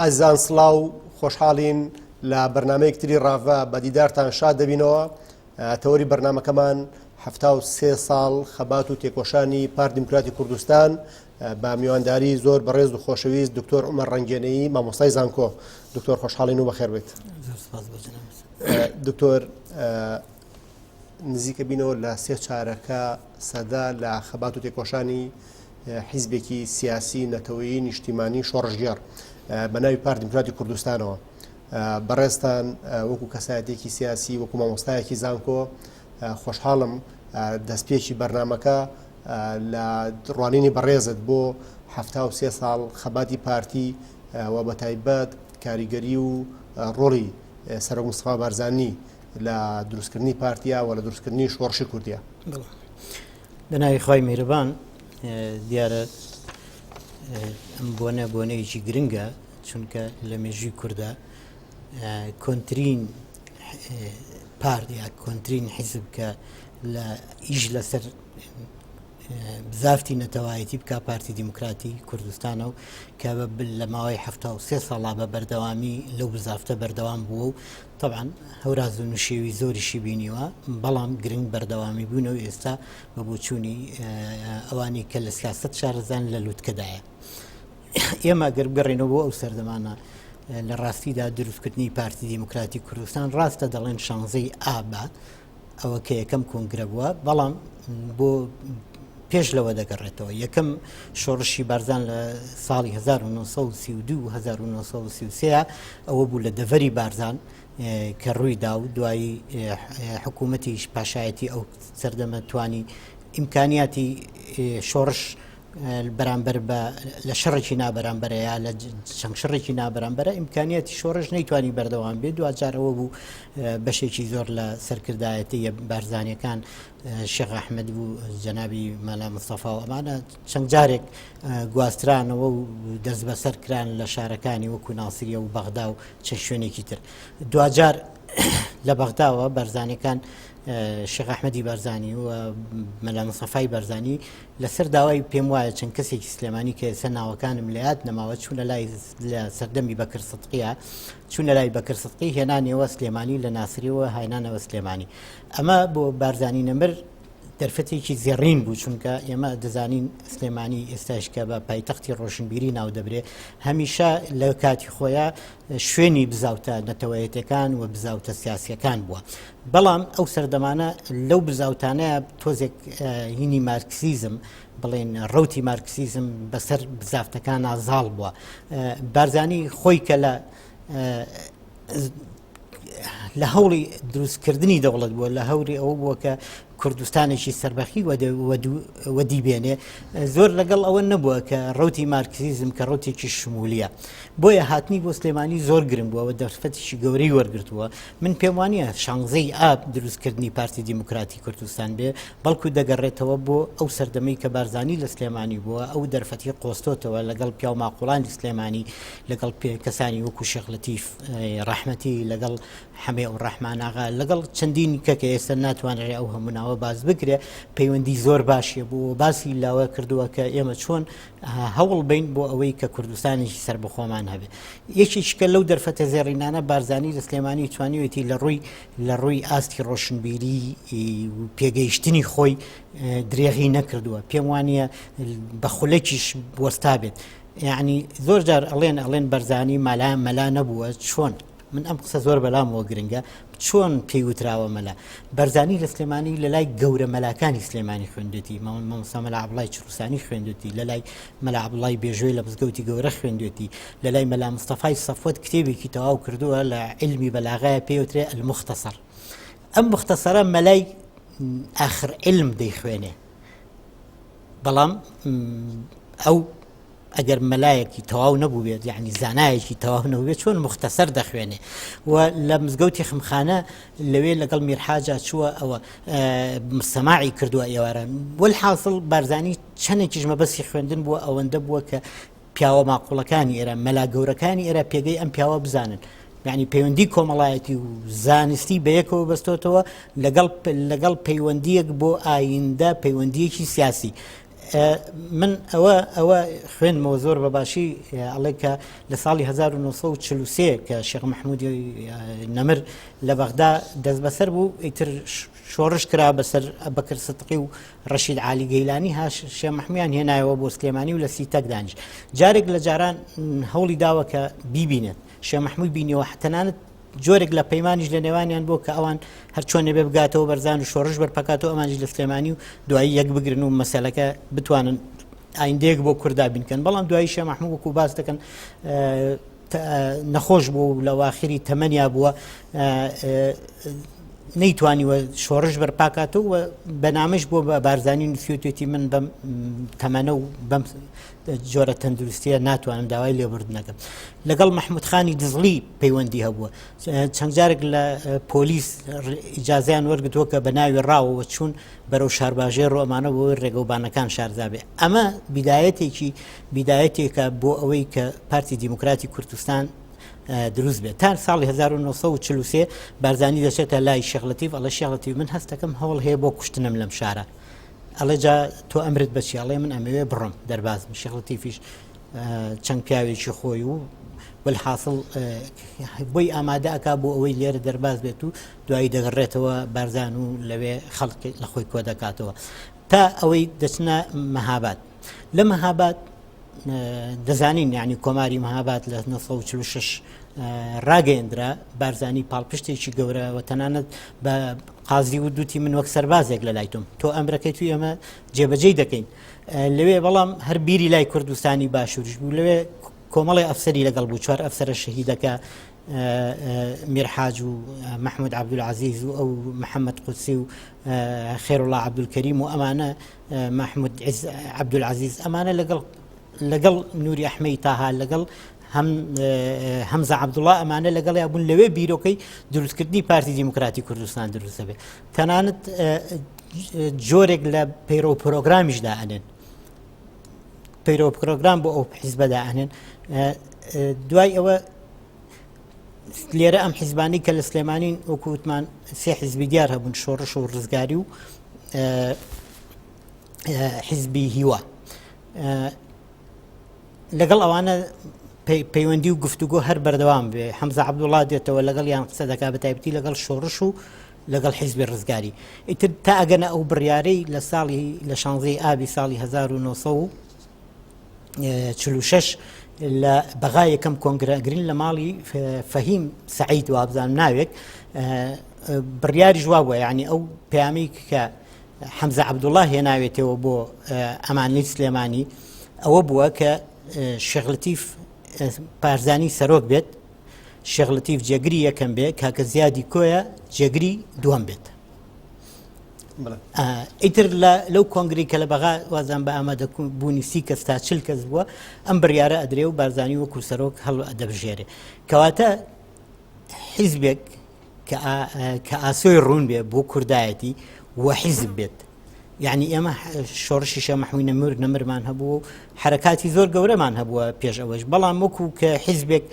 ئەزیزان سڵاو خۆشحاڵین لە بەرنمەیەک تری ڕاڤە بە دیدارتان شاد دەبینەوە تەوەری بەرنمەکەمان هەفتا و سێ ساڵ خەبات و تێکۆشانی پار دیموکراتی کوردستان بە میوانداری زۆر بەڕێز و خۆشەویست دکتۆر عمە ڕنگێنەی مامۆستای زانکۆ دکتۆر خۆشحاڵین و بەخێر بێت دکتۆر نزیکە بینەوە لە سێ چارەکە سەدا لە خەبات و تێکۆشانی حیزبێکی سیاسی نەتەوەیی نیشتیمانی شۆڕژگەڕ بە ناوی پار دیموکراتی کوردستانەوە بەڕێستان وەکو کەسایەتێکی سیاسی وەکو مامۆستایەکی زانکۆ خۆشحاڵم دەستپێکی بەرنمەکە لە ڕوانینی بەڕێزت بۆ ه سێ ساڵ خەباتی پارتی و بە تایبەت کاریگەری و ڕۆڵی سەرۆک مستفا بارزانانی لە دروستکردنی پارتیا و لە دروستکردنی شۆڕشی کوردیا بەناوی خی میربان دیارە ئەم بۆنە بۆنەیەکی گرنگە چونکە لە مێژوی کووردا کۆنتترین پارت یا کۆنتترین حیزب کە لە ئیش لەسەر زافتی نەتەوایەتی بکە پارتی دیموکراتی کوردستانە و کە لە ماوەی ه سێ ساڵا بە بەردەوامی لەو بزافتە بەردەوام بووە و طبعاان هەوراز و نوشێوی زۆریشی بینیوە بەڵام گرنگ بەردەوامی بوون و ئێستا بە بۆچوونی ئەوانی کە لە سیاست شارزان لە لووتکەدایە ئێمە گەر بگەڕێنەوە بۆ ئەو سەردەمانە لە ڕاستیدا دروستکردنی پارتی دیموکراتی کوردستان ڕاستە دەڵێن شانزەی ئابە ئەوە کە یەکەم کۆنگرە بووە بەڵام بۆ پێش لەوە دەگەڕێتەوە یەکەم شۆڕشی بارزان لە ساڵی 1932 ئەوە بوو لە دەڤەری بارزان کە ڕووی دا و دوایی حکوومەتیش پاشایەتی ئەو سەردەمە توانی ئیمکانیاتی شۆڕش بەرامبەر بە لە شەڕێکی نابەرامبەرەیە لە چەند شەڕێکی نابەرامبەرە ئیمکانیەتی شۆڕش نەیتوانی بەردەوام بێت دوجارەوە بوو بەشێکی زۆر لە سەرکردایەتی بارزانانیەکان شێخ ئەحمد بوو جەنابی مەلا مستەفا و ئەمانە چەند جارێک گواسترانەوە و دەست بەسەر کران لە شارەکانی وەکو ناسریە و بەغدا و چە شوێنێکی تر دوجار لە بەغداوە بەرزانەکان شێخ ئەحمەدی بەرزانی و مەلا مسەفای بەرزانی لەسەر داوای پێم وایە چەند کەسێکی سلێمانی کە ئێستا ناوەکانم لە یاد نەماوە چوونە لای لە سەردەمی بەکر سدقیە چوونە لای بەکر سدقی هێنانەوە سلێمانی لە ناسریەوە هاینانەوە سلێمانی ئەمە بۆ بارزانانی نەمر دەرفەتێکی زێڕین بوو چونکە ئێمە دەزانین سلێمانی ئێستاشکە بە پایتەختی ڕۆشنبیری ناو دەبرێ هەمیشە لە کاتی خۆیان شوێنی بزاوتە نەتەوەیەتەکان و بزاوتە سیاسەکان بووە بەڵام ئەو سەردەمانە لەو بزاوتانەیە تۆزێک هینی مارکسیزم بڵێن ڕوتی مارکسیزم بەسەر بزافتەکان نازاڵ بووە بارزانی خۆی کە لە لە هەوڵی دروستکردنی دەوڵەت بووە لە هەوری ئەو بووە کە کوردستانێکی سەربەخی وەدی بێنێ زۆر لەگەڵ ئەوە نەبووە کە ڕوتی مارکسیزم کە ڕوتێکی شمولیە بۆیە هاتنی بۆ سلێمانی زۆر گرنگ بووەوە دەرفەتیشی گەورەی وەرگتووە من پێم وانە شانزەی ئاب دروستکردنی پارتی دیموکراتی کوردستان بێ بەڵکو دەگەڕێتەوە بۆ ئەو سەردەمەی کە بارزانانی لە سلێمانی بووە ئەو دەرفەتی قۆستۆتەوە لەگەڵ پیاو ماقۆڵانی سلێمانی لەگەڵ پێ کەسانی وەکو شەخلەتیف ڕەحمەتی لەگەڵ حەمەی و ڕەحمان ئاغا لەگەڵ چەندین کە کە ئێستا ناتوانرێ ئەو هەموو ناوە باز بکرێ پەیوەندی زۆر باشیە بۆ باسی لاوە کردووە کە ئێمە چۆن هەوڵ بین بۆ ئەوەی کە کوردستانیشی سەر بەخۆمان هەبێت یەکیشکە لەو دەرفەتە زێڕینانە بارزانانی لە سلێمانی توانیوێتی لە ڕووی لە ڕووی ئاستی ڕۆشنبیری پێگەیشتنی خۆی درێغی نەکردووە پێم وانە بە خولەکیش بۆستا بێت یعنی زۆر جار ئەڵێن ئەڵێن بەرزانی مەلا مەلا نەبووە چۆن من ئەم قسە زۆر بەلامەوە گرنگە چۆن پێی وتراوە مەلا بەرزانی لە سلێمانی لە لای گەورە مەلاکانی سلێمانی خوێندێتی ماون مەمسامەلا عبڵای چروسانی خوێندێتی لە لای مەلا عبڵای بێژوێ لە مزگەوتی گەورە خوێندێتی لە لای مەلا مستەفای سەفوت کتێبێکی تەواو کردووە لە علمی بەلاغای پێوترێ المختەسەر ئەم مختەسەرە مەلای ئاخر علم دەیخوێنێ بەڵام ئەو ئەگەر مەلایەکی تەواو نەبووێت یعنی زانایەکی تەواو نەوێت چۆن مختەسەر دەخوێنێ و لە مزگەوتی خمخانە لەوێ لەگەڵ میرحاجا چووە ئەوە سەماعی کردووە ئێواران وەل حاصل بارزانانی چەندێکیش مەبەسی خوێندن بووە ئەوەندە بووە کە پیاوە ماقولەکانی ئێرە مەلا گەورەکانی ئێرە پێگەی ئەم پیاوە بزانن یعنی پەیوەندی کۆمەڵایەتی و زانستی بەیەکەوە بەستۆتەوە لەگەڵ لەگەڵ پەیوەندیەک بۆ ئایندە پەیوەندیەکی سیاسی من ئەوە ئەوە خوێنمەوە زۆر بە باشی ئەڵێ کە لە ساڵی 1940 کە شێخ مححمودی نەمر لە بەغدا دەست بەسەر بوو ئیتر شۆڕش کرا بەسەر بەکر ستقی و ڕەشید عالی گەیلانی هاش شێ مححمیان هێنایەوە بۆ سلێمانی و لە سیتەک دانیش جارێک لە جاران هەوڵی داوە کە بیبینێت شێ مححموی بینیەوە حتەنانت جۆرێک لە پەیمانیش لە نێوانیان بۆ کە ئەوان هەرچۆنێ بێ بگاتەوە بەرزان و شۆڕش بەرپەکاتەوە ئەمانجی لە سلێمانی و دوایی یەک بگرن و مەسەلەکە بتوانن ئایندەیەک بۆ کوردا بینکەن بەڵام دوایی شە مححمود وەکو باس دەکەن نەخۆش بوو لە واخری تەمەنیا بووە نەیتوانی وە شۆڕش بەرپاکاتەوە بەنامەش بۆ بە بارزانانی نووسیوتێتی من بەم تەمەنە و بەم جۆرە تەندروستیە ناتوانن داوای لێبوردنەکەم لەگەڵ مححمودخانی دزڵی پەیوەندی هەبووە چەند جارێک لە پۆلیس ئیجاازیان وەرگتووە کە بە ناوی ڕاوەوە چوون بەرەو شارباژێ ڕۆمانە بۆ ڕێگەوبانەکان شاردابێ ئەمە بیدایەتێکی بیدایەتێکە بۆ ئەوەی کە پارتی دیموکراتی کوردستان دروست بێت تا ساڵی 1940 بارزانانی دەچێتە لای شغلەتیف ئەڵە شغلەتی من هەستەکەم هەوڵ هەیە بۆ کوشتنم لەم شارە ئەڵێ جا تۆ ئەمرت بەچی ئەڵێ من ئەمەوێ بڕۆم دەربازم شێخ لەتیفیش چەند پیاوێکی خۆی و بل حاصل بۆی ئامادە ئەک بۆ ئەوەی لێرە دەرباز بێت و دوایی دەگەڕێتەوە بارزان و لەوێ خەڵک لە خۆی کۆ دەکاتەوە تا ئەوەی دەچنە مەهابات لە مەهاباد دەزانین یعنی کۆماری مەهاباد لە 1946 ڕاگەیەندرا بارزانی پاڵپشتێکی گەورە و تەنانەت بە قازی و دوتی من وەک سەربازێک لە لای تۆم تۆ ئەمرەکەی توی ئەمە جێبەجێی دەکەین لەوێ بەڵام هەر بیری لای کوردستانی باشوریش بوو لەوێ کۆمەڵی ئەفسری لەگەڵ بوو چوار ئەفسرە شەهیدەکە میرحاج و مححمود عبدولعزیز و ئەو محەممەد قوسی و خێرڵا عبدولکەریم و ئەمانە مەحمود عبدولعزیز ئەمانە لەگەڵ لەگەڵ نوری ئەحمەی تاها لەگەڵ هەمزە عبدوڵا ئەمانە لەگەڵ یابوون لەوێ بیرۆکەی دروستکردنی پارتی دیموکراتی کوردستان دروستە بێت تەنانەت جۆرێک لە پەیرۆ پرۆگرامیشدا ئەنێن پەیرۆ پرۆگرام بۆ ئەو حیزبەدا ئەنێن دوای ئەوە لێرە ئەم حیزبانی کە لە سلێمانین وەکو وتمان سێ حیزبی دیار هەبوون شۆڕش و ڕزگاری و حیزبی هیوا لەگەڵ ئەوانە پەیوەندی و گفتوگۆ هەر بەردەوام بێ حەمزە عبدوڵا دێتەوە لەگەڵ یان قسە دەکا بە تایبەتی لەگەڵ شۆڕش و لەگەڵ حیزبی ڕزگاری ئیتر تا ئەگەنە ئەو بڕیارەی لە ساڵی لە شانزەی ئابی ساڵی 1970 چلو شەش لە بەغا یەکەم کۆنگرە گرین لە ماڵی فەهیم سعید وابزان ناوێک بڕیاری جووا بووە ینی ئەو پامەی کە حەمزە عبدوڵله هێناوێتەوە بۆ ئەمانلی سلێمانی ئەوە بووە کە شغلتیف پارزانی سەرۆک بێت شغلتیف جێگری یەکەم بێت کاکە زیادی کۆیە جێگری دووەم بێت ئیتر لەو کۆنگری کە لە بەغا وازان بە ئامادە بوونی سی کەس تا چل کەس بووە ئەم بڕیاە ئەدرێ و بارزانانی وەکو سەرۆک هەڵ دەبژێرێ کەواتە حیزبێک کە ئاسۆی ڕوون بێ بۆ کوردایەتی و حیزب بێت یعنی ئێمە شۆڕشیشە مەحوینە مر نەمرمان هەبوو حرکاتی زۆر گەورەمان هەبووە پێش ئەوەش بەڵام وەکو کە حیزبێک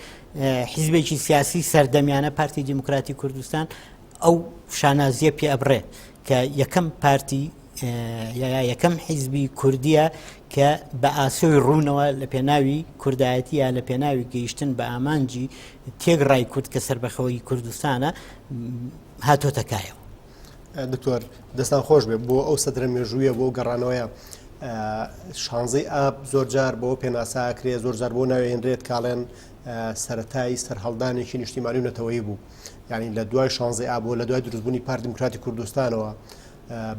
حیزبێکی سیاسی سەردەمیانە پارتی دیموکراتی کوردستان ئەو شانازیە پێ ئەبڕێ کە یەکەم پارتی یەکەم حیزبی کوردیە کە بە ئاسۆی ڕوونەوە لە پێناوی کوردایەتیە لە پێناوی گەیشتن بە ئامانجی تێک ڕای کورد کە سربەخەوەی کوردستانە هاتۆتەکایەوە دکتۆر دەستان خۆش بێ بۆ ئەو سەدرە مێژوویە بۆ گەڕانەوەیە شانزەی ئاب زۆرجار بۆ پێناساکرێ زۆرجار بۆ ناوێنرێت کاڵێن سەتای سەررهڵدانێکی نیشتیمانی و نەتەوەی بوو یانی لە دوای شانزەی ئاب و لە دوای دروستبوونی پارتی دیموکراتی کوردستانەوە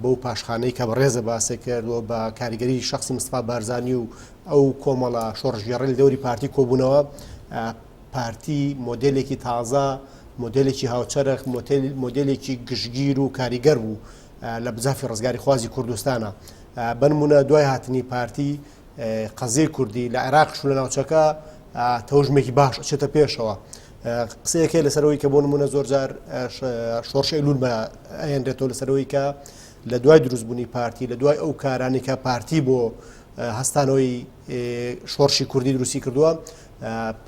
بەو پاشخانەی کە بەڕێزە باسێ کردووە بە کاریگەری شخصی مستفا بارزانانی و ئەو کۆمەڵە شۆڕژگەڕی دەوری پارتی کۆبوونەوە پارتی مۆدلێکی تازە مۆدلێکی هاوچەرخ مۆدلێکی گشتگیر و کاریگەر بوو لە بزافی ڕزگاری خوازی کوردستانە بنمونە دوای هاتنی پارتی قەزیە کوردی لە عێراق شو لە ناوچەکە تەوژمێکی باش چێتە پێشەوە قسەیەکێ لەسەرەوەی کە بۆ نمونە زۆرجار شۆرشی لول بە ئەێنرێتەوە لەسەرەوەی کە لە دوای دروستبوونی پارتی لە دوای ئەو کارانی کە پارتی بۆ هەستانەوەی شۆرشی کوردی دروستی کردووە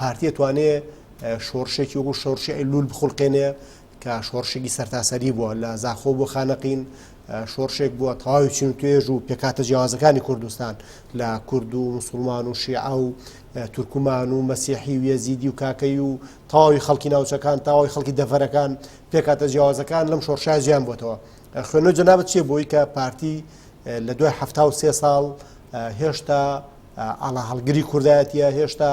پارتیە توانێ شۆرشێکی وەکو شۆرشی لول بخڵقێنێ کە شۆڕشێکی سەرتاسەری بووە لە زاخۆ بۆ خانەقین شۆڕشێک بووە تەواوی چین و توێژ و پێکاتە جیازەکانی کوردستان لە کورد و مسلمان و شیعە و تورکمان و مەسیحی و یەزیدی و کاکەی و تەواوی خەڵکی ناوچەکان تاوای خەڵکی دەڤەرەکان پێکاتە جیاوازەکان لەم شۆڕشای جیان بۆتەوە خوێنە جەنابەت چێ بۆی کە پارتی لە دوای ه سێ ساڵ هێشتا ئاڵا هەڵگری کوردایەتە هێشتا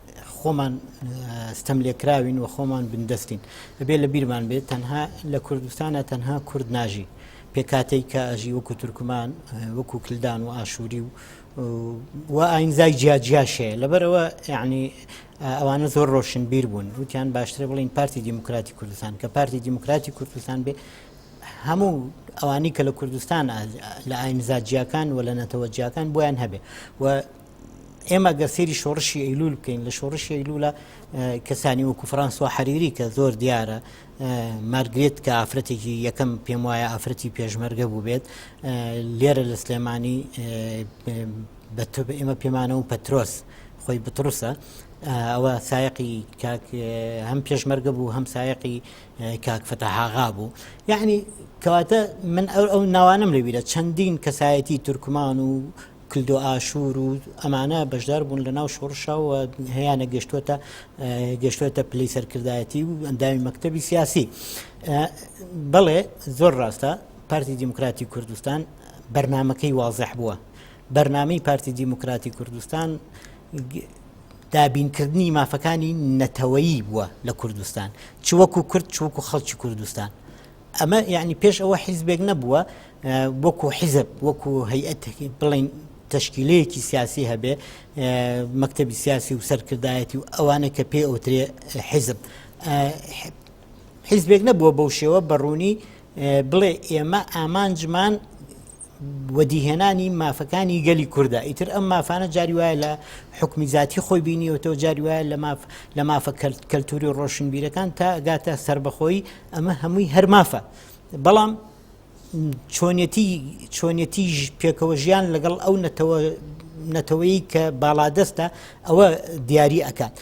خۆمان ستەملێکراوین و خۆمان بندەستین ئەبێ لە بیرمان بێت تەنها لە کوردستانە تەنها کورد ناژی پێکاتەی کە ئەژی وەکو تورکمان وەکو کلدان و ئاشووری و و ئاینزای جیاجیاشەیە لەبەرەوە یعنی ئەوانە زۆر ڕۆشن بیر بوون وتیان باشترە بڵین پارتی دیموکراتی کوردستان کە پارتی دیموکراتی کوردستان بێ هەموو ئەوانی کە لە کوردستان لە ئاینزا جیاکان و لە نەتەوە جیاکان بۆیان هەبێ و ئێمە گەر سێری شۆڕشی ئەیلول بکەین لە شۆڕشی ئەیلولە کەسانی وەکو فرانسۆ حەریری کە زۆر دیارە مارگرێت کە ئافرەتێکی یەکەم پێم وایە ئافرەتی پێشمەرگە بوو بێت لێرە لە سلێمانی بە ئێمە پێمانە و پەترۆس خۆی بتڕوسە ئەوە سایقی هەم پێشمەرگە بوو هەم سایقی کاکفەتە هاغا بوو یعنی کەواتە من ئەو ئەو ناوانم لەبیرە چەندین کەسایەتی تورکمان و کلدوئاشور و ئەمانە بەشدار بوون لە ناو شۆڕشا و هەیانە گەشتوەتە گەشتوەتە پلەی سەرکردایەتی و ئەندامی مەکتتەبی سیاسی بەڵێ زۆر ڕاستە پارتی دیموکراتی کوردستان بەرنمەکەی وازح بووە بەرنمەی پارتی دیموکراتی کوردستان دابینکردنی مافەکانی نەتەوەیی بووە لە کوردستان چوەکو کورد چوەکو خەڵکی کوردستان ئەمە یەعنی پێش ئەوە حیزبێک نەبووە وەکو حیزب وەکو هەیئەت بڵین تشکیلەیەکی سیاسی هەبێ مەکتتەبی سیاسی و سەرکردایەتی و ئەوانە کە پێ ئەوترێ حیزب حیزبێک نەبووە بەو شێوە بەڕوونی بڵێ ئێمە ئامانجمان وەدیهێنانی مافەکانی گەلی کوردە ئیتر ئەم مافانە جاری وایە لە حکمی زیاتی خۆی بینیەوەەوە جاری وایە لە ماف لە مافە کەلتوری و ڕۆشنبیرەکان تا گاتە سربەخۆی ئەمە هەمووی هەر مافە بەڵام چۆنیەتی چۆنیەتی پێکەوە ژیان لەگەڵ ئەو نەتەوە نەتەوەی کە باڵادەستە ئەوە دیاری ئەکات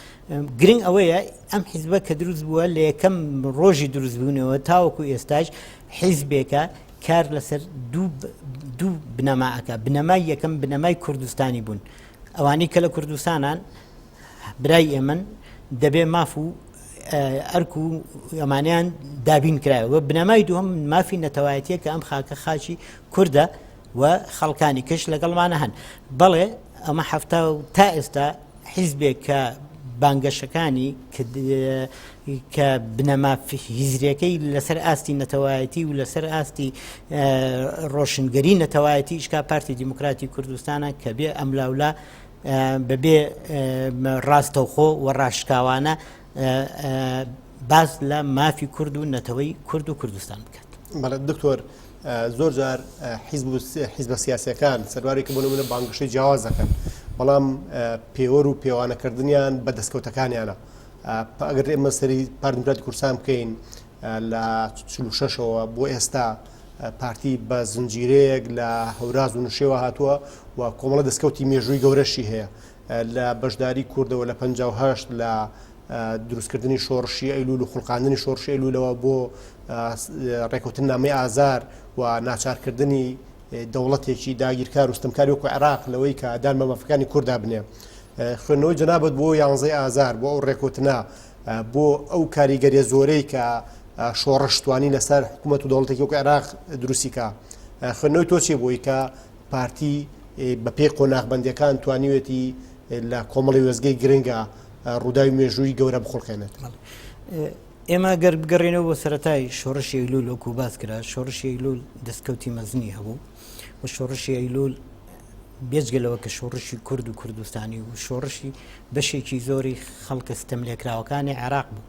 گرنگ ئەوەیە ئەم حیزبە کە دروست بووە لە یەکەم ڕۆژی دروستبوونەوە تاوەکو ئێستاش حیزبێکە کار لەسەر دوو دوو بنەما ئەکا بنەمای یەکەم بنەمای کوردستانی بوون ئەوانەی کە لە کوردستانان برای ئێمن دەبێ ماف و ئەرک و ئەمانیان دابین کرایەوە بنەمای دوم مافی نەتەوایەتە کە ئەم خاکە خاچی کووردە و خەڵکانی کەش لەگەڵمانە هەن بەڵێ ئەمە هەفتا و تا ئێستا حیزبێک کە بانگەشەکانی کە بنەما هیزرەکەی لەسەر ئاستی نەتەوایەتی و لەسەر ئاستی ڕۆشنگەری نەتەوایەتی ئیشکا پارتی دیموکراتی کوردستانە کە بێ ئەملاولا بەبێ ڕاستەوخۆ و ڕاشکاوانە باس لە مافی کورد و نەتەوەی کورد و کوردستان بکات بەڵێت دکتۆر زۆر جار حیز بە سیاسەکان سەروارێکی بۆ منە بانگشەی جیاواز دەکەن بەڵام پێوەر و پێوانەکردنیان بە دەستکەوتەکانیانە ئەگەر ئێمە سەری پاردمرات کورسان بکەین لە شەشەوە بۆ ئێستا پارتی بە زنجیرەیەک لە هەوراز و نوشێوە هاتووە و کۆمەڵە دەستکەوتی مێژووی گەورەشی هەیە لە بەشداری کوردەوە لە پەنجا و هەشت لە دروستکردنی شۆڕشی ئەیلول و خوڵقاندنی شۆڕشی ئەیلولەوە بۆ ڕێکوتن نامی ئازار و ناچارکردنی دەوڵەتێکی داگیرکار و ستمکاری وەکو عێراق لەوەی کە دان بە مافەکانی کوردا بنێ خوێندنەوەی جنابەت بۆ یانزەی ئازار بۆ ئەو ڕێکوتنە بۆ ئەو کاریگەریە زۆرەی کە شۆڕشتوانی لەسەر حکوومەت و دەوڵەتێکی وەکو عێراق دروستیکە خوێندنەوەی تۆ چی بووی کە پارتی بە پێی قۆناغ بەندیەکان توانیوێتی لە کۆمەڵی وێزگەی گرنگە ڕووداوی مێژووی گەورە بخڵقێنێت. ئێمە گەر بگەڕێنەوە بۆ سەتای شۆڕشی ئەیلول وەکو باس کرا شۆڕشی ئەیلول دەستکەوتی مەزنی هەبوو و شۆڕشی ئەیلول بێجگەلەوە کە شۆڕشی کورد و کوردستانی و شۆڕشی بەشێکی زۆری خەڵکە ستەم لێکراوەکانی عێراق بوو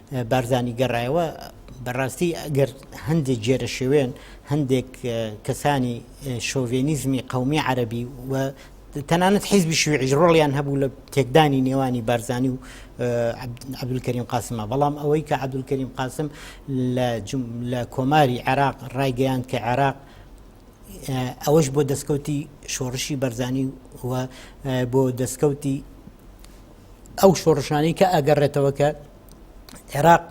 بارزانی گەڕایەوە بەڕاستی ئەگەر هەندێک جێرە شێوێن هەندێک کەسانی شۆڤێنیزمی قومی عەربی و تەنانەت حیزبی شوێژ ڕۆڵیان هەبوو لە تێکدانی نێوانی بارزانانی و عبدولکەریم قاسمە بەڵام ئەوەی کە عبدولکەریم قاسم لە کۆماری عێراق ڕایگەیان کە عێراق ئەوەش بۆ دەستکەوتی شۆڕشی بەرزانی و بۆ دەستکەوتی ئەو شۆڕشانەی کە ئەگەڕێتەوە کە عێراق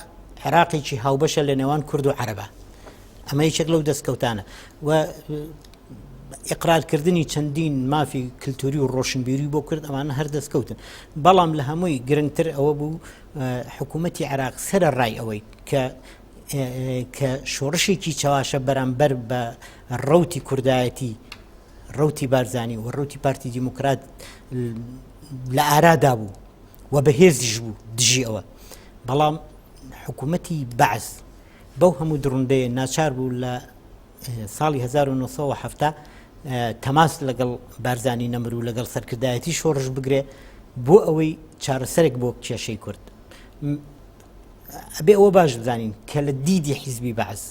عێراقێکی هاوبەشە لە نێوان کورد و عەرەبە ئەمە یەکێک لەو دەستکەوتانە و ئقرارکردنی چەندین مافی کللتوری و ڕۆشنبیری بۆ کرد ئەمانە هەر دەستکەوتن بەڵام لە هەمووی گرنگتر ئەوە بوو حکوومەتتی عراق سرە ڕای ئەوەی کە کە شۆڕشێکی چاواشە بەرامبەر بە ڕوتی کوردایەتی ڕوتی بارزانانی و ڕوتی پارتی دیموکرات لە ئارادا بوو و بەهێزیش بوو دژی ئەوە بەڵام حکوومەتی بەعس بەو هەموو دڕندەیە ناچار بوو لە ساڵی 1970 تەماس لەگەڵ بارزانانی نەمر و لەگەڵ سەرکردایەتی شۆڕش بگرێ بۆ ئەوەی چارەسەرێک بۆ کێشەی کورد ئەبێ ئەوە باش بزانین کە لە دیدی حیزبی بەعس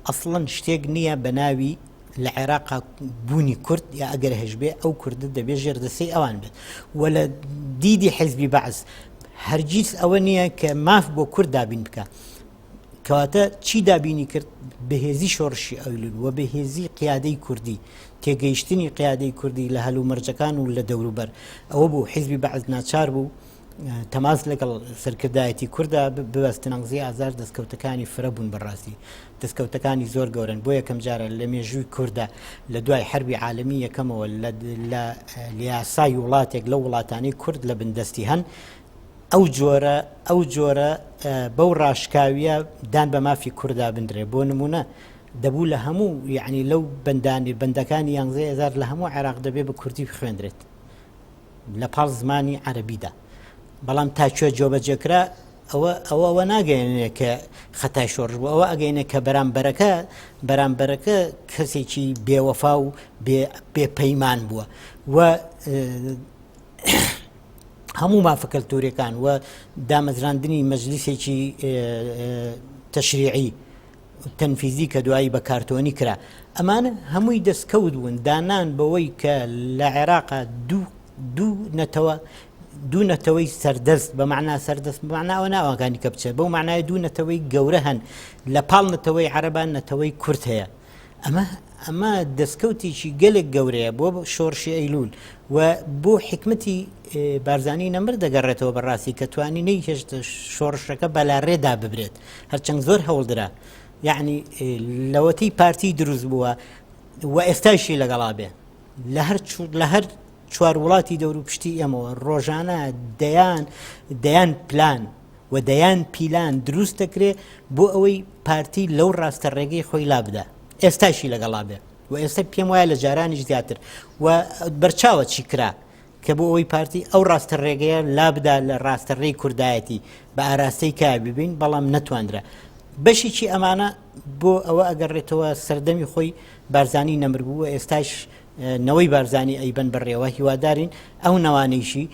ئەسڵەن شتێک نییە بە ناوی لە عێراق بوونی کورد یا ئەگەر هەشبێ ئەو کوردە دەبێت ژێر دەسەی ئەوان بێت و لە دیدی حزبی بەعز هەرگیز ئەوە نییە کە ماف بۆ کورد دابین بکە کەواتە چی دابینی کرد بەهێزی شۆڕشی ئەولون و بەهێزی قیادەی کوردی تێگەیشتنی قیادەی کوردی لە هەلو مەرجەکان و لە دەوروبەر ئەوە بوو حیزبی بەعز ناچار بوو تەماس لەگەڵ سەرکردایەتی کووردا ببەستن ئەنگزی ئازار دەستکەوتەکانی فرە بوون بەڕاستی دەستکەوتەکانی زۆر گەورن بۆ یەکەم جارە لە مێژووی کووردا لە دوای حربی عالمی یەکەمەوە لە لیاسای وڵاتێک لە وڵاتانی کورد لە بندستی هەن ئەو جۆرە ئەو جۆرە بەو ڕاشکاویە دان بە مافی کووردا بنرێ بۆ نمونە دەبوو لە هەموو یعنی لەو بەندانی بەندەکانی یانزە هزار لە هەموو عێراق دەبێ بە کوردی بخوێندرێت لە پاڵ زمانی عەرەبیدا بەڵام تا کوێ جۆبەجێکرا ئەوە ئەوە ئەوە ناگەێنێ کە خەتای شۆڕژ بوو ئەوە ئەگەینە کە بەرامبەرەکە بەرامبەرەکە کەسێکی بێوەفا و بێپەیمان بووە و هەموو مافەکەلتورەکان و دامەزراندنی مەجلیسێکی تەشریعی تەنفیزی کە دوایی بە کارتۆنی کرا ئەمانە هەمووی دەستکەوت بوون دانان بەوەی کە لە عێراقا دوو دوو نەتەوە دوو نەتەوەی سەردەست بە معنا سەردەست معناوە ناوەکانی کە بچێت بەو معنای دوو نەتەوەی گەورە هەن لە پاڵ نەتەوەی عەربان نەتەوەی کورت هەیە ئەمە ئەمە دەستکەوتێکی گەلێک گەورەیە بۆ شۆڕشی ئەیلول و بۆ حکمتی بارزانانی نەمر دەگەڕێتەوە بەڕاستی کە توانی نەی هێشت شۆڕشەکە بەلاڕێدا ببرێت هەرچەند زۆر هەوڵدرا یعنی لەوەتی پارتی دروست بووە و ئێستاشی لەگەڵا بێ لە هەر لە هەر چوار وڵاتی دەورو پشتی ئێمەوە ڕۆژانە دەیان دەیان پلان و دەیان پیلان دروست دەکرێ بۆ ئەوەی پارتی لەو ڕاستە ڕێگەی خۆی لا بدە ئێستاشی لەگەڵا بێ و ئێستا پێم وایە لە جارانی زیاتر و بەرچاوە چی کرا کە بۆ ئەوەی پارتی ئەو ڕاستە ڕێگەیە لابدا لە ڕاستە ڕێی کوردایەتی بە ئاراستەی کار ببین بەڵام نەتواندرا بەشیی ئەمانە بۆ ئەوە ئەگەڕێتەوە سەردەمی خۆی بارزانانی نەمربوو ئێستاش نەوەی بارزانانی ئەیبەن بەڕێوە هیوادارین ئەو نەوانەیشی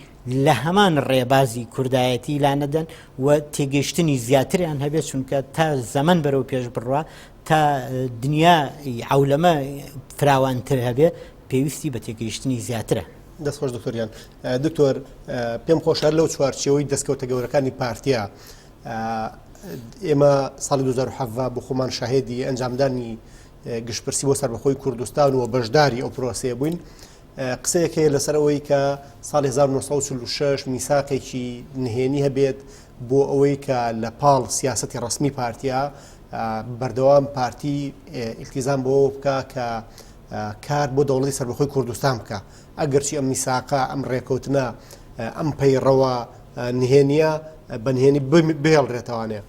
لە هەمان ڕێبازی کوردایەتی لانەدەن و تێگەشتنی زیاتریان هەبێت چونکە تا زەمن بەرەو پێش بڕە تا دنیا عولەمە فراوانتر هەبێت پێویستی بە تێگەیشتنی زیاترە. دەست خۆش دکتۆر گیان. دکتۆر پێم خۆشە هەر لەو چوارچێوەی دەستکەوتە گەورەکانی پارتیا ئێمە ساڵی 2017 بۆ خۆمان شاهێدی ئەنجامدانی گشتپرسی بۆ سەربەخۆی کوردستان و بەشداری ئەو پرۆسەیە بووین. قسەیەک هەیە لەسەر ئەوەی کە ساڵ 1946 میساقێکی نهێنی هەبێت بۆ ئەوەی کە لە پاڵ سیاستی ڕسمی پارتیا بەردەوام پارتی ئیلتیزان بۆ بکە کە کار بۆ دەوڵەتی سەربەخۆی کوردستان بکا ئەگەرچی ئەم میساقە ئەم ڕێکەوتنە ئەم پەیڕەوە نهێنیە بە نهێنی بهێڵرێتەوانێ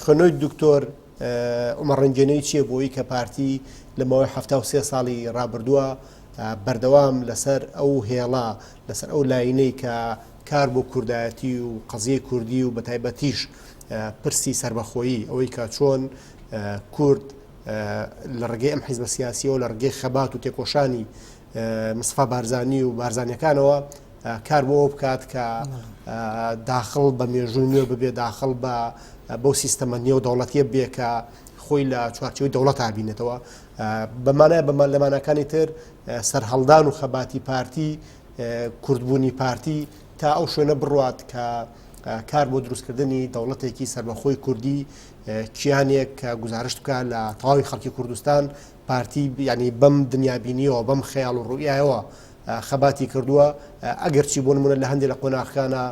خوێنەوەی دکتۆر ئۆمەڕەنجێنەی چییە بۆی کە پارتی لە ماوەی ه سێ ساڵی ڕابردووە بەردەوام لەسەر ئەو هێڵە لەسەر ئەو لاینەی کە کار بۆ کوردایەتی و قەزیە کوردی و بەتایبەتیش پرسی سربەخۆیی ئەوەی کە چۆن کورد لە ڕێگەی ئەم حیزبە سیاسیەوە لە ڕگەی خەبات و تێکۆشانی مستفا بارزانانی و بارزانانەکانەوە کار بۆ بکات کە داخل بە مێژووی نوێ ببێ داخل بە بەو سیستەمە نێو دەوڵەتیە بێ کە خۆی لە چوارچەوەی دەوڵەت بینێتەوە بەمانە بەمان لەمانەکانی تر سەررهڵدان و خەباتی پارتی کوردبوونی پارتی تا ئەو شوێنە بڕات کە کار بۆ دروستکردنی دەوڵەتێکی سربەخۆی کوردی کیانێک کە گوزارشت بکە لە تەواوی خەڵکی کوردستان پارتی بیانی بەم دنیابینیەوە بەم خەیاڵ و ڕوئایەوە خەباتی کردووە ئەگەرچی بۆ نمونە لە هەندێک لە قۆناخەکانە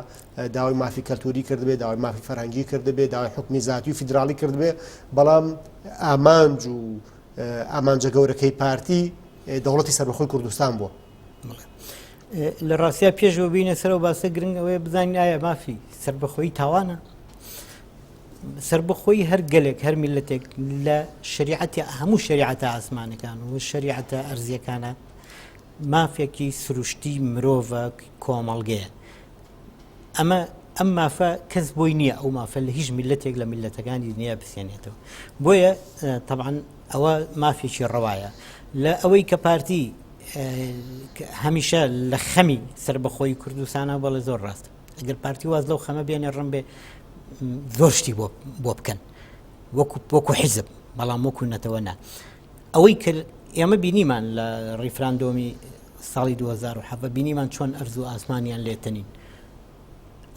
داوای مافی کەلتوری کردبێ داوای مافی فەرهەنگی کردبێ داوای حکومی زیاتی و فیدراالی کردبێ بەڵام ئامانج و ئامانجە گەورەکەی پارتی دەوڵەتی سەربەخۆی کوردستان بووە لە ڕاستیا پێشەوە بینە سەرەوە باسە گرنگەوەی بزانین ئایا مافی سربەخۆی تاوانە سەربەخۆیی هەر گەلێک، هەر میللەتێک لە شەریعەتی هەموو شەریعەتە ئاسمانەکان و شەریعەتە ئەرزیەکانە مافێکی سروشتی مرۆڤە کۆمەڵگەیە. ئەمە ئەم مافە کەس بۆی نییە ئەو مافە لە هیچ میلەتێک لە میلەتەکانی دنیا بسێنێتەوە بۆیە طبعاان ئەوە مافێکی ڕەوایە لە ئەوەی کە پارتی هەمیشە لە خەمی سربەخۆی کوردستانە بەڵێ زۆر ڕاستە ئەگەر پارتی واز لەو خەمە بێنێ ڕم بێ زۆر شتی بۆ بکەن وەکو وەکو حیزب بەڵام وەکو نەتەوە نا ئەوەی کە ئێمە بینیمان لە ڕیفراندۆمی ساڵی 2007 بینیمان چۆن ئەرز و ئاسمانیان لێتەنین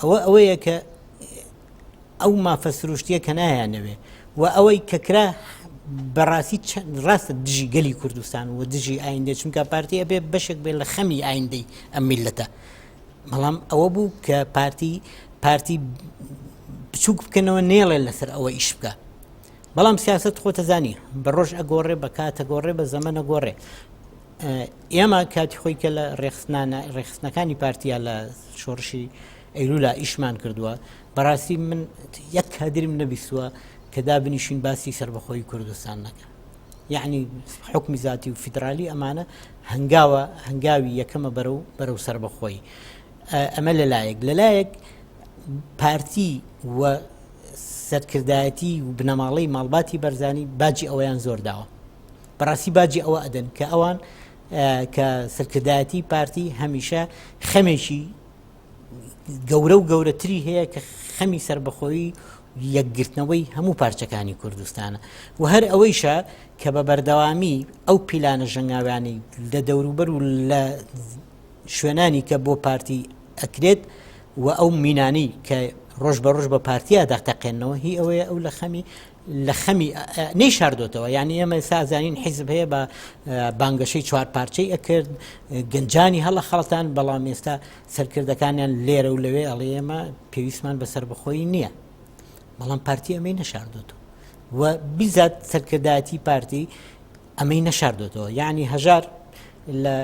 ئەوە ئەوەیە کە ئەو مافە سروشتیە کە نایانەوێ و ئەوەی کەکرا بەڕاستی ڕاستە دژی گەلی کوردستان و دژی ئایندە چونکە پارتیە بێ بەشێک بێ لە خەمی ئایندەی ئەم میلەتە بەڵام ئەوە بوو کە پارتی پارتی بچووک بکەنەوە نێڵێ لەسەر ئەوە ئیش بکە بەڵام سیاست خۆتەزانی بە ڕۆژ ئەگۆڕێ بە کاتە گۆڕێ بە زەمەە گۆڕێ ئێمە کاتی خۆی کە لە ڕێخستانە ڕێخستنەکانی پارتیا لە شۆڕشی ئەیرولا ئیشمان کردووە بەڕاستی من یەک کادریم نەبیستووە کە دابنیشین باسی سربەخۆی کوردستان نەکە یەعنی حوکمی زاتی و فیدرالی ئەمانە هەنگاوە هەنگاوی یەکەمە بەرە و بەرە و سربەخۆی ئەمە لەلایەک لەلایەک پارتی و سەرکردایەتی و بنەماڵەی ماڵباتی بەرزانی باجی ئەویان زۆر داوە بەڕاستی باجی ئەوە ئەدەن کە ئەوان کە سەرکردایەتی پارتی هەمیشە خەمێکی گەورە و گەورەتری هەیە کە خەمی سربەخۆیی یەکگرتنەوەی هەموو پارچەکانی کوردستانە و هەر ئەوەیشە کە بە بەردەوامی ئەو پیلانە ژەنگاویانی لە دەوروبەر و لە شوێنانی کە بۆ پارتی ئەکرێت و ئەو مینانی کە ڕۆژ بە ڕۆژ بە پارتیادا تەقێنەوە هی ئەوەیە ئەو لە خەمی لە خەمی نەیشاردۆتەوە یانی ئێمە سازانین حیزب هەیە بە بانگەشەی چوار پارچەی ئەکرد گەنجانی هەڵە خەڵتان بەڵام ئێستا سەرکردەکانیان لێرە و لەوێ ئەڵێ ئێمە پێویستمان بە سربەخۆی نییە بەڵام پارتی ئەمەی نەشاردۆتەوە و بیزات سەرکردایەتی پارتی ئەمەی نەشاردۆتەوە یعنی هەژار لە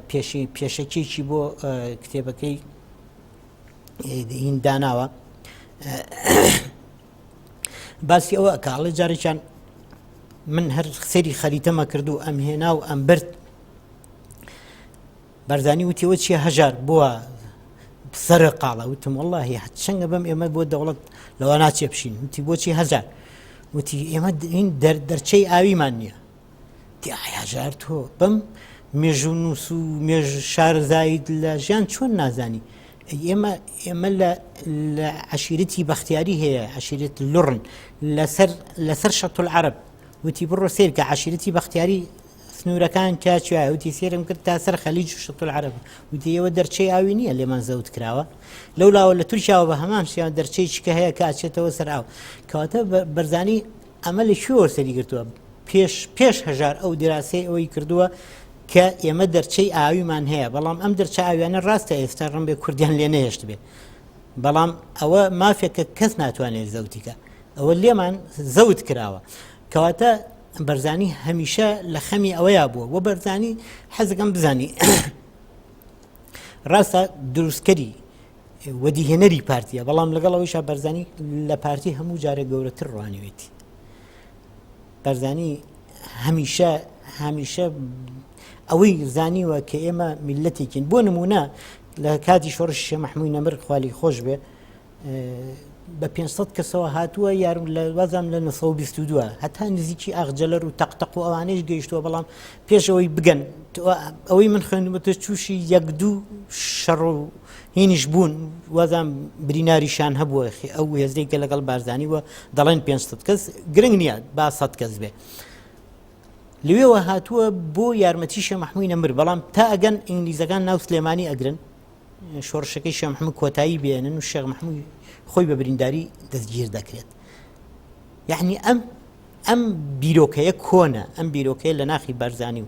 پێشی پێشەکێکی بۆ کتێبەکەی هینداناوە باسی ئەوە کاڵێ جارێکیان من هەر سێری خەریتەمە کرد و ئەم هێنا و ئەم برد بەرزانی وتیەوە چیە هەژار بووە سرە قاڵە وتم واللهی چەنگە بەم ئێمە بۆ دەوڵەت لەوە ناچێ بشین وتی بۆچی هەزار وتی ئێمە دەرچەی ئاویمان نییە تیاحیاجار تۆ بەم مێژوو نووس و مێژ شارزایت لە ژیان چۆن نازانی ئێمە ئێمە لە عشیرتی بەختیاری هەیە عشیرت لڕن لەسەر لەسەر شەتول عرب وتی بڕۆ سیر کە عشیرتی بەختیاری سنوورەکان کاچیا وتی سێرم کرد تا سەر خەلیج و شەتول عرب وتی ئەوە دەرچەی ئاوی نییە لێمان زەوت کراوە لەولاوە لە تورکیاوە بە هەمان شیان دەرچەی چکە هەیە کاچێتەوە سەر ئاو کەواتە بەرزانی ئەمە لە کوێوە سەری گرتووە پێش پێش هەژار ئەو دیراسەی ئەوەی کردووە کە ئێمە دەرچەی ئاویمان هەیە بەڵام ئەم دەرچە ئاویانە ڕاستە ئێستا ڕم بێ کوردیان لێ نەهێشت بێ بەڵام ئەوە مافێکە کەس ناتوانێت زەوتیکە ئەوە لێمان زەوت کراوە کەواتە بەرزانی هەمیشە لە خەمی ئەوەیە بووە وە بەرزانی حەزەکەم بزانی ڕاستە دروستکەری وەدیهێنەری پارتیە بەڵام لەگەڵ ئەوەیشا بەرزانی لە پارتی هەموو جارە گەورەتر ڕوانەوێتی بەرزانی هەمیشە هەمیشە ئەوەی زانیوە کە ئێمە میلەتێکین بۆ نمونە لە کاتی شۆڕش شێ مححمووی نەمر خالی خۆش بێ بە 500 کەسەوە هاتووە یارم لە وازام لە 1922 هەتا نزیکی ئاخجلەر و تەقتەق و ئەوانش گەیشتووە بەڵام پێشەوەی بگەن ئەوەی من خوێندمەتە چوشی یەک دوو شەڕ و هینیش بوون وازان بریناریشان هەبووە ئەو هێزەی کە لەگەڵ بارزانانی وە دەڵێن 500 کەس گرنگ نییە با سەد کەس بێ لەوێەوە هاتووە بۆ یارمەتی شە مححموی نەمر بەڵام تا ئەگەن ئینگلیزەکان ناو سلێمانی ئەگرن شۆڕشەکەی شە مححمو کۆتایی بێنن و شێخ مححموی خۆی بە برینداری دەستگیر دەکرێت یعنی ئەم ئەم بیرۆکەیە کۆنە ئەم بیرۆکەیە لە ناخی بەرزانی و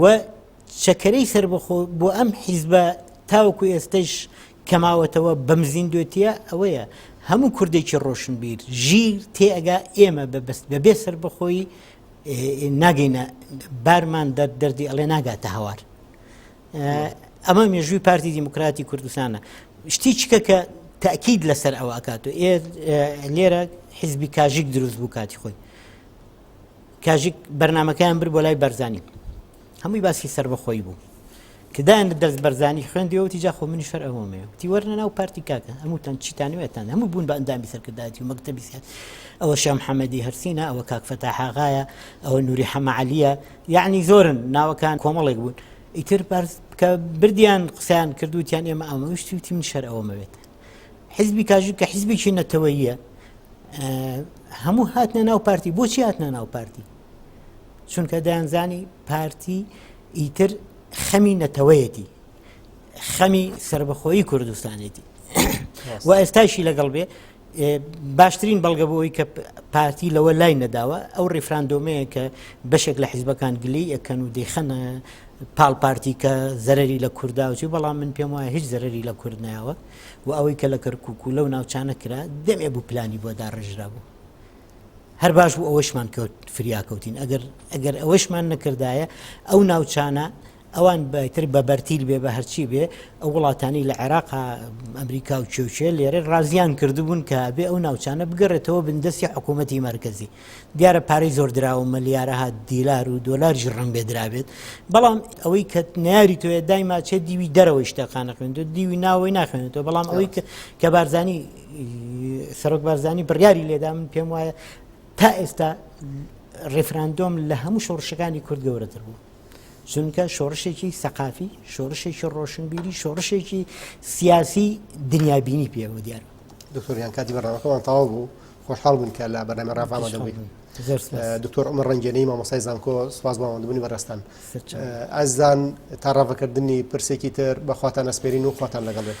و چەکەرەی سەربەخۆ بۆ ئەم حیزبە تاوەکو ئێستش کەماوەتەوە بەم زیندوێتیە ئەوەیە هەموو کوردێکی ڕۆشنبیر ژیر تێئگا ئێمە بەبست بەبێ سەر بەخۆی ناگەینە بارمان دەرد دەردی ئەڵێ ناگاتە هەوار ئەمە مێژووی پارتی دیموکراتی کوردستانە شتی چکە کە تاکیید لەسەر ئەوە ئەکات و لێرە حیزبی کاژیک دروست بوو کاتی خۆی کاژیک بەرنامەکەیان برد بۆ لای بەرزانی هەمووی باسی سربەخۆی بوو کدایان لە دەرز بەرزانی خوێندیەوەتی جاخۆ منی شەر ئەوەمەیە تی وەرنە ناو پارتی کاکە هەمووتان چیتانوێتان هەموو بوون بە ئەندامی سەرکردایەتی و مەکتتەبی سیاست ئەوە شام حەمەدی هەرسینە ئەوە کاکفەتا حاغایە ئەوە نووری حەمەعالیە یعنی زۆرن ناوەکان کۆمەڵێک بوون ئیتر بەرز بکە بردیان قسەیان کردوتیان ئێمە ئامەویشتی وتی من شەر ئەوەمەوێت حیزبی کاژو کە حیزبێکی نەتەوەیە هەموو هاتنە ناو پارتی بۆچی هاتنە ناو پارتی چونکە دەیانزانی پارتی ئیتر خەمی نەتەوەیەتی خەمی سربەخۆی کوردستانێتی و ئێستاشی لەگەڵ بێ باشترین بەڵگە بۆی کە پارتی لەوە لای نەداوە ئەو ڕیفراندۆمەیە کە بەشێک لە حیزبەکان گلی ئەکەن و دەیخەنە پاڵ پارتی کە زەرری لە کوردداوچی بەڵام من پێم وایە هیچ زەرری لە کورد ناوە و ئەوەی کە لە کەرکک و لەو ناوچانە کرا دەمێ بوو پلانی بۆ داڕژرا بوو هەر باش بوو ئەوەشمان کەوت فریاکەوتین ئەگەر ئەگەر ئەوەشمان نەکردایە ئەو ناوچانە ئەوان بەتر بە بەرتیل بێ بە هەرچی بێ ئەو وڵاتانی لە عێراق ئەمریکا و کێوچێ لێرە ڕازیان کردبوون کە بێ ئەو ناوچانە بگەڕێتەوە بندەستی حکوومەتتی مرکزی دیارە پارەی زۆر دراوە ملیارەها دیلار و دۆلاریش ڕەنگبێ درابێت بەڵام ئەوەی کە ناری توێ دایما چێ دیوی دەرەوەی شتەکانە خوێنێت و دیوی ناوەی ناخوێنێتەوە بەڵام ئەوەی کە بارزانی سەرۆک بارزانی بڕیاری لێدا من پێم وایە تا ئێستا ڕێفراندۆم لە هەموو شۆڕشەکانی کورد گەورەتر بوو چونکە شۆڕشێکی سەقافی شۆڕشێکی ڕۆشنبیری شۆڕشێکی سیاسی دنیابینی پێوە دیار دکتۆریان کاتی بەڕەوەکەمان تاوا بوو خۆشحاڵ بووین کە لە بەرنامەی ڕاڤە ئامادە بووی. زۆر سپاس. دکتۆر عومەر ڕەنگێنەی مامۆستای زانکۆ سپاس بۆ ئامادەبوونی بەڕێزتان. سەر چاو. ئازیزان تا ڕاڤەکردنی پرسێکی تر بە خواتان ئەسپێرین و خواتان لەگەڵ بێت.